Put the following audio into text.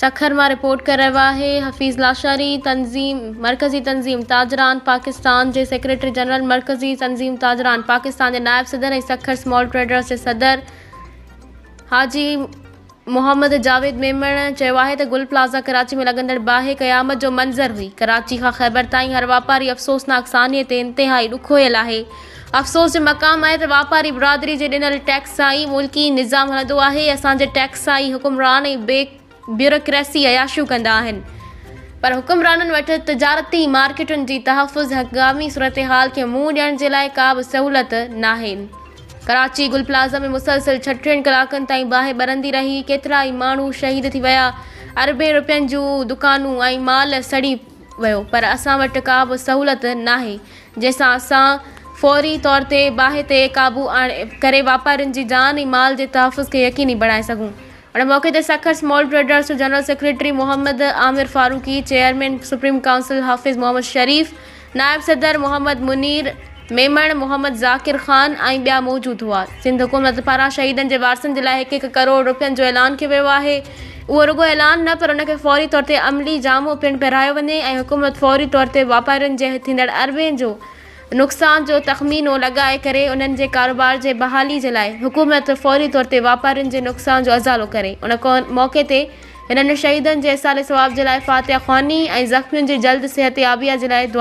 سکر مان رپورٽ ڪري رهيو آهي حفيظ لاشاري تنظيم مرڪزي تنظيم تاجران پاڪستان جي سيڪريٽري جنرل مرڪزي تنظيم تاجران پاڪستان جي نائب صدر ۽ سکر سمال ٽريڊرز جي صدر حاجي محمد جاويد ميمڻ چيو آهي ته گل پلازا ڪراچي ۾ لڳندڙ باهه قيامت جو منظر هئي ڪراچي کان خيبر تائين هر واپاري افسوسناڪ سانحي تي انتهائي ڏکويل آهي افسوس جو مقام آهي ته واپاري برادري جي ڏنل ٽيڪس سان ئي ملڪي نظام هلندو آهي، اسان جي ٽيڪس سان ئي حڪمران ۽ بيوروڪريسي عياشيون ڪندا آهن پر حڪمرانن وٽ تجارتي مارڪيٽن جي تحفظ هنگامي صورتحال کي منهن ڏيڻ جي لاء ڪا به سهولت ناهي. ڪراچي گل پلازه ۾ مسلسل ڇهه ٽين ڪلاڪن تائين باهه ٻرندي رهي، ڪيترائي ماڻهو شهيد ٿي ويا، اربين رپين جون دڪانون ۽ مال سڙي ويو پر اسان وٽ ڪا به سهولت ناهي، جنهن سان اسان فوري طور تي باهه تي قابو آڻي ڪري واپارين جي جان ۽ مال جي تحفظ کي يقيني بڻائي سگهون. ان موقعي تي سکر سمال ٽريڊرز جو general secretary Muhammad Aamir Farooqui, chairman supreme council Hafiz Muhammad Sharif, نائب صدر محمد منير ميمڻ، محمد ذاڪر خان ۽ ٻيا موجود هئا. سنڌ حڪومت پاران شهيدن جي وارثن جي لاء هڪ هڪ ڪروڙ رپين جو اعلان ڪيو ويو آهي. اهو رڳو اعلان نه پر ان کي فوري طور تي عملي جامو پڻ پهرايو وڃي ۽ حڪومت فوري طور تي واپارين جي ٿيندڙ اربين جو نقصان جو تخمينو لڳائي ڪري انهن جي ڪاروبار جي بحالي جي لاء حڪومت فوري طور تي واپارين جي نقصان جو ازالو ڪري ان موقعي تي هنن شهيدن جي ايصال ثواب جي لاء فاتحه خواني ۽ زخمين جي جلد صحتيابيء جي لاء دعا